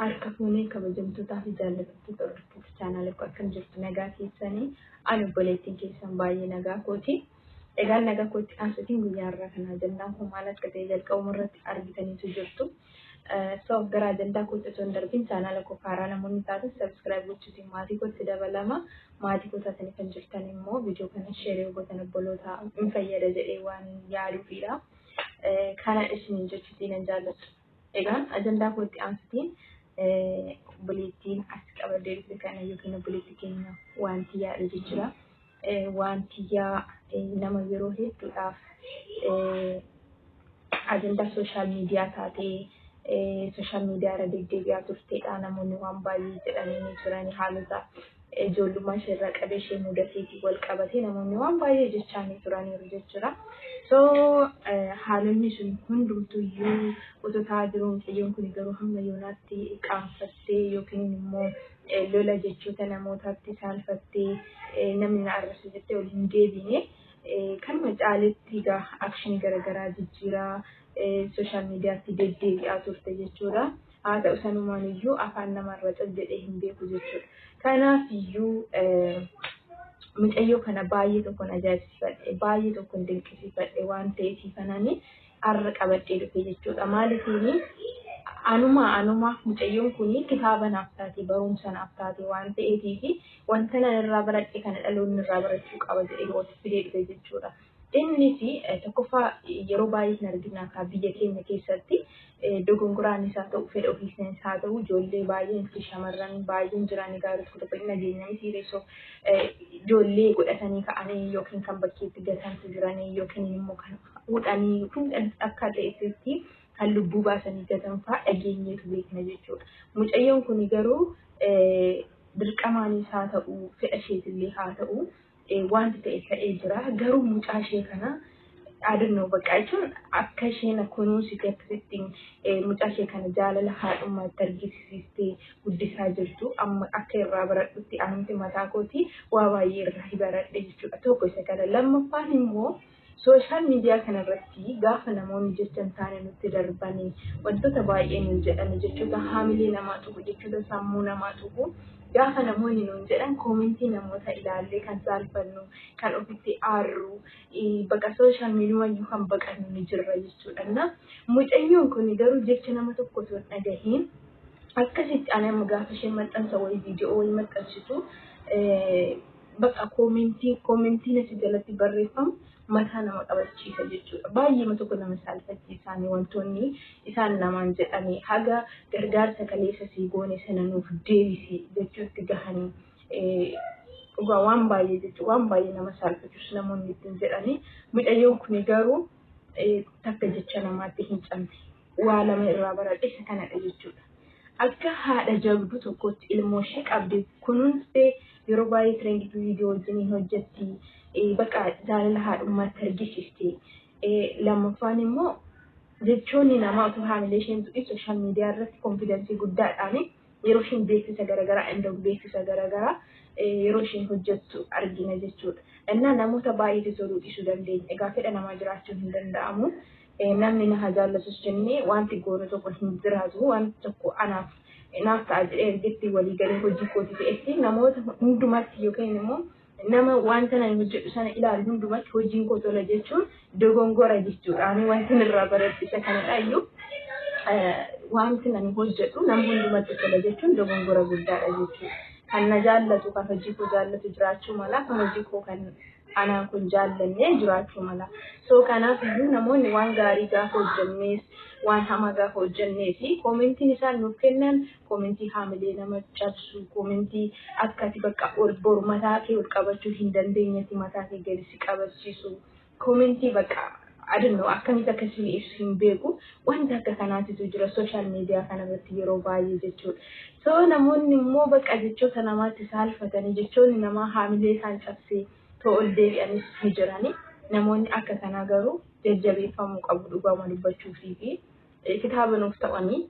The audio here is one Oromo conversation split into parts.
Harka fuunee kabajamtootaa fi jaallattoota hordoftoota chaanaalii koo akkam jirtu nagaa keessanii ani obboleettiin keessan baay'ee nagaa kooti. Egaan nagaa kootti aansuutiin guyyaa har'aa kana ajandaan koo maal akka ta'e jalqabuma irratti argitaniitu jirtu. So gara ajandaa kootti osoo hin darbin chaanaala koo kaaraa namoonni taatan subscribe gochuutiin maatii kootti dabalama. Maatii koo taatanii kan jirtan immoo viidiyoo kana share yoo gootan obboloota hin fayyada jedhee waan yaaduufiidha. Kana isiniin jechuutiin nan jaalladha. Egaan ajandaa kootti aansutiin obboleettiin as qabadee dhufe kana yookiin obboleetti keenya wanti yaadu jira. waan tiyyaa nama yeroo hedduudhaaf ajandaa sooshaal miidiyaa taatee sooshaal miidiyaa irra deddeebi'aa turteedha. Namoonni waan baay'ee jedhanii ni turan haalota ijoollummaa ishee irraa qabee ishee mudateetiin wal qabatee namoonni waan baay'ee jechaa ni turaniiru jechuudha. So haalonni sun hundumtuu iyyuu otoo ta'aa jiru mucayyoon kun garuu hamma yoonaatti qaanfattee yookiin immoo Lola jechoota namootaatti saalfattee namni na arrabse jettee ol hin deebiine. Kanuma caaletti egaa akshinii garaagaraa jijjiiraa sooshaal miidiyaatti deddeebi'aa turte jechuudha. Haa ta'u sanumaan iyyuu afaan namarra cal jedhee hin beeku jechuudha. Kanaaf iyyuu mucayyoo kana baay'ee tokkon ajaa'ibsiifadhe baay'ee tokkon dinqisiifadhe waan ta'eef kanani arra qabadhee dhufe jechuudha maalifiini anumaa anumaaf mucayyoon kunii kitaaba naaf taate baruumsa naaf taate waan ta'eetiifi wanta nan irraa baradhe kana dhaloonni irraa barachuu qaba jedhee wati fidee dhufe jechuudha innis tokkoffaa yeroo baay'ee hin arginaa kaa biyya keenya keessatti dogongoraan isaa ta'u fedha ofiisna isaa ta'u ijoollee baay'een fi shamarran baay'een jiranii gaarii tokko tokko hin dhageenya miti reessoo ijoollee godhatanii ka'anii yookiin kan bakkeetti gatantu jiranii yookiin immoo kan fuudhanii yookiin kan akka re'eetti kan lubbuu baasanii gatan fa'aa dhageenyeetu beekna jechuudha. Mucayyoon kun garuu dirqamaanis haa ta'u fedha isheetillee haa ta'u wanti ta'e ta'ee jira. Garuu mucaa ishee kana dhaadannoo baqqaa jechuun akka isheen kunuunsite akkasitti mucaa ishee kana jaalala haadhummaatti argisiistee guddisaa jirtu amma akka irraa baradhutti anumti mataa kootii waa baay'ee irraa baradhe jechuudha. Tokko isa kana lammaffaan immoo Social media kana irratti gaafa namoonni jecha hin taane nutti darbani, wantoota baay'ee nuun jedhani, jechoota haamilee namaa tuqu, jechoota sammuu namaa tuqu, gaafa namoonni nuun jedhan comment namoota ilaallee kan saalfannu, kan ofitti aarru, baqa social media iyyuu kan baqannu ni jirra jechuudha. Na mucayyoon kun garuu jecha nama tokko osoo hin dhagahiin akkasitti ani amma gaafa isheen maxxansa wayii video wayii maxxansitu Bakka koomentiin koomentiin achi jalatti barreeffamu mataa nama qabachiisa jechuudha. Baay'eema tokko nama saalfachiisaanii wantoonni isaan namaan jedhanii haga gargaarsa kaleessa sii goone sana nuuf deebisi jechuutti gahanii dhugaa waan baay'ee jechuun waan baay'ee nama saalfachiisu namoonni ittiin jedhanii mucayyoon kuni garuu takka jecha namaatti hin cabne. waa lama irraa baradhe isa kanadha jechuudha. Akka haadha jabduu tokkootti ilmooshee qabdee kunuunstee yeroo baay'ee trend to video wajjiniin hojjetti baqa jaalala haadhummaatti argisiisti. Lammaffaan immoo jechoonni namaa utuu haamilee isheen tuqin sooshaal miidiyaa irratti konfidansii guddaadhaan yeroo isheen beeksisa garaagaraa indoog beeksisa garaagaraa yeroo isheen hojjettu argina jechuudha. Innaa namoota baay'eetu toluu dhiisuu dandeenya. Egaa fedha namaa jiraachuun hin danda'amu. Namni na haa jaallatus jennee wanti goonu tokko hin jiraatu. Wanti tokko anaaf naaf ta'a jedhee ergitti walii galee hojii kooti ta'etti namoota hundumatti yookiin immoo nama wanta nan hojjedhu sana ilaalu hundumatti hojiin koo tola jechuun dogongora jechuudha. Ani wanti irraa baradhu isa kanadha iyyuu wanti nan hojjedhu nama hundumatti tola jechuun dogongora guddaadha jechuudha. Kan na jaallatu kan hojii koo jaallatu jiraachuu mala kan hojii koo kan anaan kun jaallanne jiraachuu mala. So kanaaf iyyuu namoonni waan gaarii gaafa hojjennees waan hamaa gaafa hojjennee fi koomentiin isaan nuuf kennan koomentii haamilee nama cabsu koomentii akka ati bakka ol bor mataa kee ol qabachuu hin dandeenyetti mataa kee gadi si qabachiisu koomentii bakka I don't know akkamitti akka isinii ibsu hin beeku wanta akka kanaatitu jira social media kanarratti yeroo baay'ee jechuudha. So namoonni immoo baqa jechoota namaatti saalfatanii jechoonni namaa haamilee isaan cabsee too ol deebi'anis ni jirani. Namoonni akka kanaa garuu jajjabeeffamuu qabu dhugaama dubbachuufii fi kitaaba nuuf ta'anii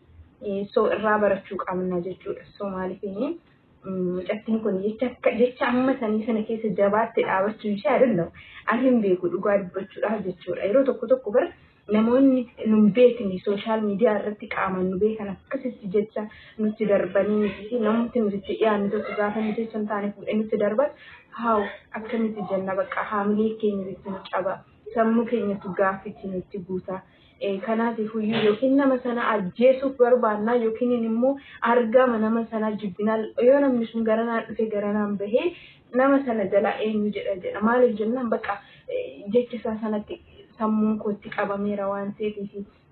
so irraa barachuu qabna jechuudha. So maaliif Mucattiin kun jecha akka jecha amma sanii sana keessa jabaatte dhaabachuun ishee adandamu. An hin beeku dhugaa dubbachuudhaaf jechuudha. Yeroo tokko tokko bara namoonni nun beekne sooshaal miidiyaa irratti qaamaan nu beekan akkasitti jecha nutti darbanii nuti fi namooti nuti itti dhiyaanne tokko gaafa nu jecha hin taane fuudhee nutti darban haaw akkamitti jenna bakka haamilee keenya itti nu caba sammuu keenyatu gaaffitti nutti guuta. Kanaatifuyyuu yookiin nama sana ajjeesuuf barbaannaa yookiin immoo argaama nama sanaa jibbinaa yoo namni sun garanaan dhufe garanaan bahee nama sana jalaa eenyu jedha jedha maaliif jennaan bakka jecha isaa sanatti sammuun kootti qabameera waan ta'eef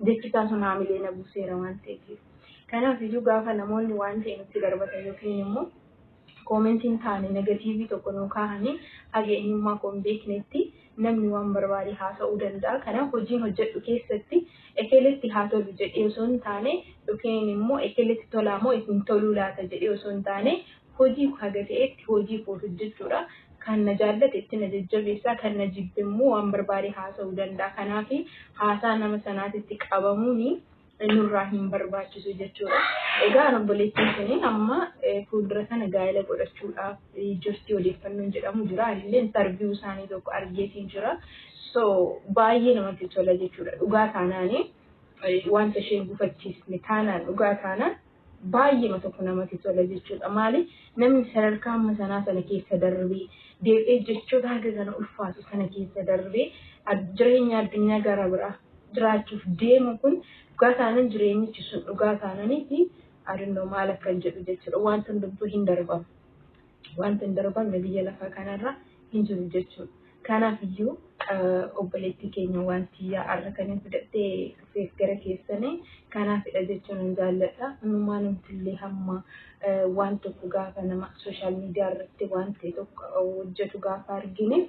jechi isaa sun haamilee na buuseera waan ta'eef. Kanaaf iyyuu gaafa namoonni waan ta'e nutti darbatan yookiin immoo Comment hin taane negative tokko nuu kaahani haga eenyummaa koo hin beeknetti namni waan barbaade haasa'uu danda'a kanaaf hojiin hojjadhu keessatti ekeletti haa tolu jedhee osoo hin taane ykn immoo ekeletti tolaa moo hin toluu laata jedhee osoo hin taane hojii koo haga ta'etti hojii koo hojjachuudha kan na jaallate itti na jajjabeessa kan na jibbe immoo waan barbaade haasa'uu danda'a kanaafi haasaa nama sanaatitti qabamuuni nurraa hin barbaachisu jechuudha. Egaa obboleettiin suniin amma fuuldura sana gaa'ela godhachuudhaaf jirti odeeffannoon jedhamu jira. Anillee intarviyuu isaanii tokko argeetiin jira. So baay'ee namatti tola jechuudha. Dhugaa taanaanii wanta isheen gufachiisne taanaan dhugaa taanaan baay'eema tokko namati tola jechuudha. Maali namni sadarkaa amma sanaa sana keessa darbee deebi'ee jechoota haga kana ulfaatu sana keessa darbee jireenya addunyaa gara biraa jiraachuuf deemu kun dhugaa taanan jireenyichi sun dhugaa taananiiti adunno maal akkan jedhu jechuudha. Wanti hundumtuu hin darbama. Wanti hin darbamne biyya lafaa kanarra hin jiru jechuudha. Kanaaf iyyuu obboleettii keenya wanti yaa'arra kan hin fudhattee dhufeef gara keessanii kanaafidha jechuun hin jaalladha. Hundumaa namtillee hamma waan tokko gaafa nama sooshaal miidiyaa irratti waan ta'e tokko hojjetu gaafa argine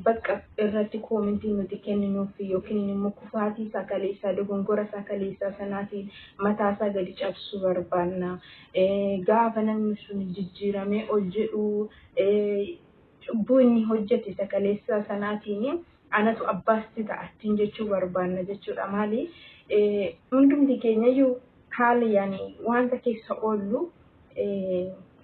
Bakka irratti koomentii nuti kenninuuf yookiin immoo kufaatii isaa kaleessaa, dogongora isaa kaleessaa sanaatiin mataa isaa gadi cabsuu barbaanna. Gaafa namni sun jijjiiramee ol jedhu cubbuu inni hojjete isa kaleessaa sanaatiin anatu abbaa sitti ta'a ittiin jechuu barbaanna jechuudha. Maali? Hundumti keenyayyuu haala yaani wanta keessa oollu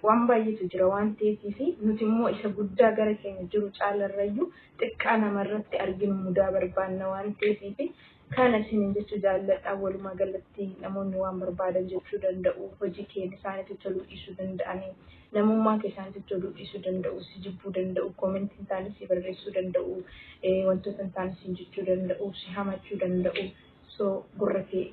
Waan baay'eetu jira waan ta'eefiifi nuti immoo isa guddaa gara keenya jiru caalarrayyuu xiqqaa namarratti arginu mudaa barbaanna waan ta'eefiifi kana isiniin jechuu jaalladha. Walumaa galatti namoonni waan barbaadan jechuu danda'u, hojii kee isaanitti toluu dhiisuu danda'anii, namummaa kee isaanitti toluu dhiisuu danda'u, si jibbuu danda'u, koomentii hin taane sii barreessuu danda'u, wantoota hin taane siin jechuu danda'u, si hamachuu danda'u, So gurra kee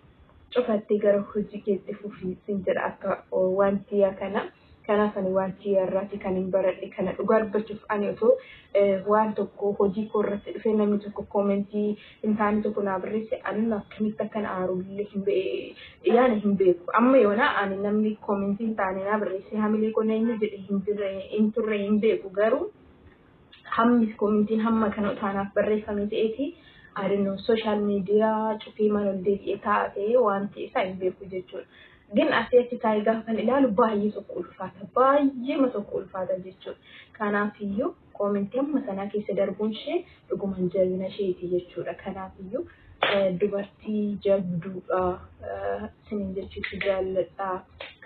cufattee gara hojii kee itti fufi sin jedha akka waan tiyyaa kana. Kanaaf ani waan tiyya irraati kan hin baradhe kana dhugaa dubbachuuf ani otoo waan tokko hojii koo irratti dhufee namni tokko koomentii hin taane tokko naa barreesse anuma akkamitti akkan aarullee hin beeku yaana hin beeku amma yoona ani namni koomentii hin taane naa barreesse hamilee koo na inni jedhe hin jirre hin turre hin beeku garuu Hammis komintiin hamma kana otaa naaf barreeffamee ta'eeti I don't know social media cufiimaan ol deebi'ee taa'a ta'ee waanti isaa hin beeku jechuudha. Gin asii achi taa'ee gaafan ilaalu baay'ee tokko ulfaata. Baay'eema tokko ulfaata jechuudha. Kanaafiyyuu komintii hamma kanaa keessa darbuunshee dhugumaan jabinasheeti jechuudha. Kanaafiyyuu. Dubartii jabduudha isiniin jechuutti jaalladha.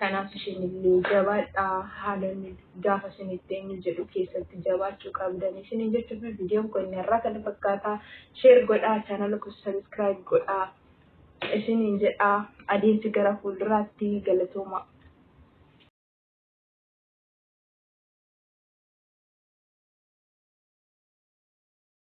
Kanaaf isinillee jabaadhaa haalonni gaafa isinitti eenyu jedhu keessatti jabaachuu qabdan isiniin jechuutti viidiyoon kun irraa kana fakkaata. Sheer godhaa chaanala koo sabiskiraayib godhaa isiniin jedhaa adeemsi gara fuulduraatti galatoomaa.